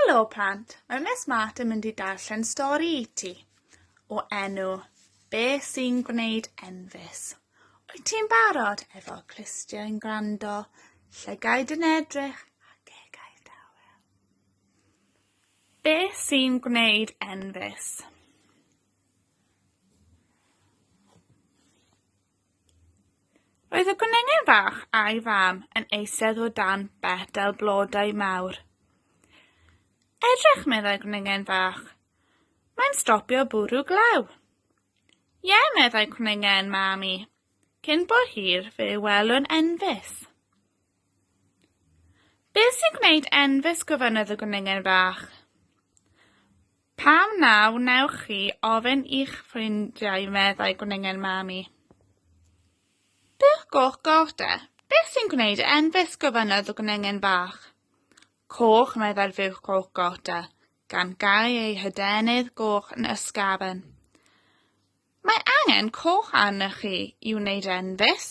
Helo plant, mae Miss Mart yn mynd i darllen stori i ti o enw Be sy'n gwneud enfys? Wyt ti'n barod efo clustiau'n gwrando, llygaid yn edrych a gegau dawel? Be sy'n gwneud enfys? Roedd y gwenengen fach a'i fam yn eistedd o dan betel blodau mawr. Edrych, meddai gwenengen fach. Mae'n stopio bwrw glaw. Ie, meddai cwnengen mam i. Cyn bo hir fe welwn enfys. Beth sy'n gwneud enfys gofynnodd y gwningen fach. Pam na wnewch chi ofyn i'ch ffrindiau meddai gwningen Mami. Beth goch goch de? Beth sy'n gwneud e enfys gofynnodd y gwningen fach. Coch meddai'r fuwch goch goch de, gan gau ei hydenydd goch yn ysgafen. Mae angen coch arnych chi i wneud enfys.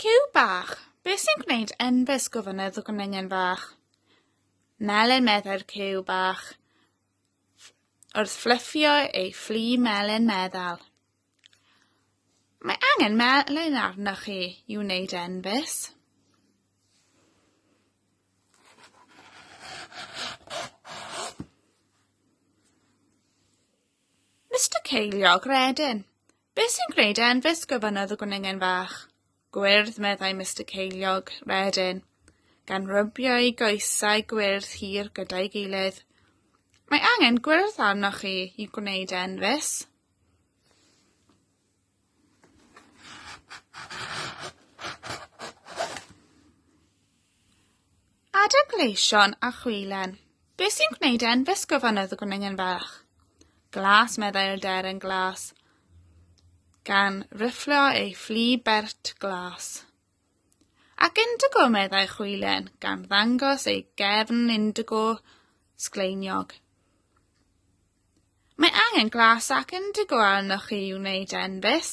Cyw bach, beth sy'n gwneud enfys gofynnau y gwningen fach. Melyn meddai'r cyw bach. Wrth fflyffio ei fflu melyn meddal. Mae angen melyn arnoch chi i wneud enfys. Mister Ceiliog Redyn, Beth sy'n gwneud e'n fus gofynnodd y gwnengen fach. Gwyrdd, meddai Mister Ceiliog, wedyn, gan rybio ei goesau gwyrdd hir gyda'i gilydd. Mae angen gwyrdd arnoch chi i gwneud e'n fus. Adegleision a chwilen. Be sy'n gwneud e'n fisgo fan oedd y gwningen fach? Glas, meddai'r deryn glas. Gan rifflio ei fflu bert glas. Ac indigo, meddai chwilen, gan ddangos ei gefn indigo sgleiniog. Mae angen glas ac indigo arnoch chi i wneud enfys.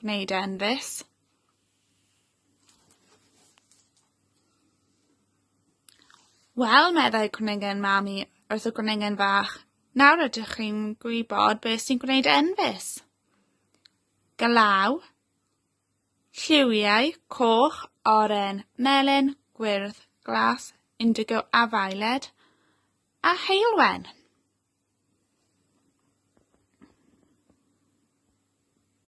Gwneud e yn fis. Wel, meddai cwningen mami wrth y gwningen fach, nawr ydych chi'n gwybod beth sy'n gwneud enfys. Galaw, lliwiau, coch, oren, melyn, gwyrdd, glas, indigo a violet, a heilwen.